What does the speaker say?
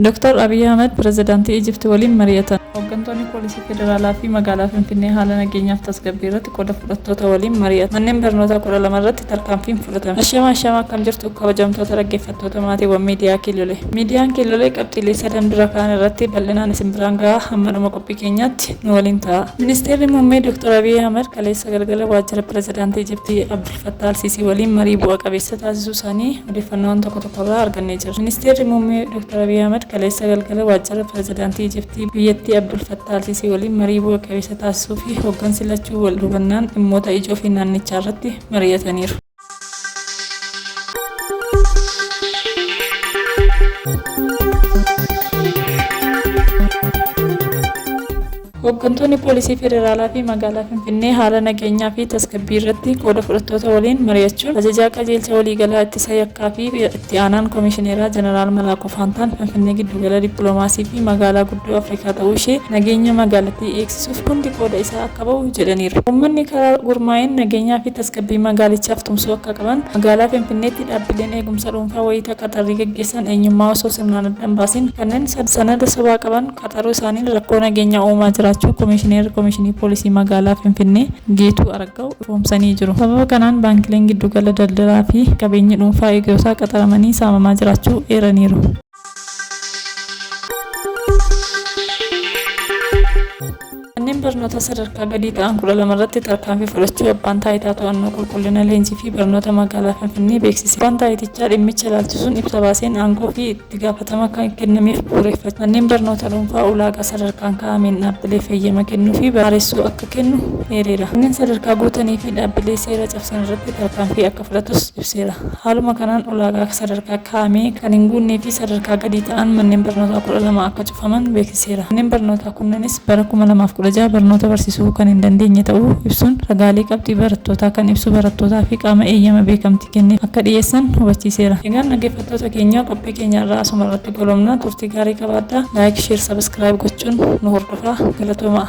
Dr. Abiy Ahimad Pirezidaantii Ijipti waliin mari'atan. Hoggantoonni Poolisii Federaalaa fi Magaalaa Finfinnee haala nageenyaa fi tasgabbii irratti qooda fudhattoota waliin mari'atan. Manneen barnootaa 12 irratti tarkaanfiin fudhatame. Ashama ashama akkam jirtu kabajamtoota dhaggeeffattoota maatiiwwan miidiyaa Kiillolee. Miidiyaan Kiillolee qabxiilee sadan dura ka'an irratti bal'inaan isin biraan gaha hamma dhuma qophii keenyaatti nu waliin ta'aa. Ministeerri Muummee Dr. Abiy Ahimad kaleessa galgala waajjira Pirezidaantii Ijiptii Abd. Fattaah Al-Siisii waliin marii bu'a qabeessa taasisuu isaanii odeeffannoowwan tokko tokko irraa argannee jirra. Ministeerri Muummee Dr. Abiy Ahmad kaleessa galgala waajjira Pirezidaantii Ijiptii biyyattii Abdul Fattaah Al-Siisii waliin marii bu'a qabeessa taasisuu fi hoggansi lachuu wal hubannaan dhimmoota ijoo fi naannichaa irratti mari'ataniiru. Hooggantoonni Poolisii Federaalaa fi Magaalaa Finfinnee haala nageenyaa fi tasgabbii irratti qooda fudhattoota waliin mari'achuun Ajajaa Qajeelcha Waliigalaa Ittisa Yakkaa fi Itti Aanaan Komishineeraa Jeneraal Malaakuu Faantaan Finfinnee giddugala dippiloomaasii fi magaalaa guddoo Afrikaa ta'uu ishee nageenya magaalattii eegsisuuf hundi qooda isaa akka ba'u jedhaniiru. Uummanni karaa gurmaa'een nageenyaa fi tasgabbii magaalichaaf tumsuu akka qaban, magaalaa Finfinneetti dhaabbileen eegumsa dhuunfaa wayita qaxarrii gaggeessan eenyummaa osoo sirnaan adda hin baasiin kanneen sanada sobaa qaban, qaxaruu isaaniin rakkoo nageenyaa uumaa jiraachuu Komishineerri Komishinii Poolisii Magaalaa Finfinnee Geetuu Araggaw ifoomsanii jiru. Sababa kanaan baankileen giddugala daldalaa fi qabeenyi dhuunfaa eegirotaa qaxaramanii saamamaa jiraachuu eeraniiru. Manneen barnootaa sadarkaa gadii ta'an 12 irratti tarkaanfii fudhachuu Abbaan Taayitaa To'annoo Qulqullina Leenjii fi Barnoota Magaalaa Finfinnee beeksise. Abbaan Taayitichaa dhimmicha ilaalchisuun ibsa baaseen aangoo fi itti gaafatama kan kennameef bu'uureffachuun manneen barnoota dhuunfaa ulaagaa sadarkaan kaa'ameen dhaabbileef heyyama kennuu fi baaressuu akka kennu eereera. Kanneen sadarkaa guutanii fi dhaabbilee seera cabsan irratti tarkaanfii akka fudhatus ibseera. Haaluma kanaan ulaagaa sadarkaa kaa'ame kan hin guunnee fi sadarkaa gadii ta'an manneen barnootaa 12 akka cufaman. faman beeksiseera. Manneen barnootaa kunneenis bara 2016 barnoota barsiisuu kan hin dandeenye ta'uu ibsuun ragaalee qabxii barattootaa kan ibsu barattootaa fi qaama eeyyama beekamtii kenneef akka dhiyeessan hubachiiseera. Egaan dhaggeeffattoota keenya qophii keenya har'aa asuma irratti goolabna. Turtii gaarii qabaadhaa. Like, Share, Subscribe gochuun nu hordofaa. Galatoomaa!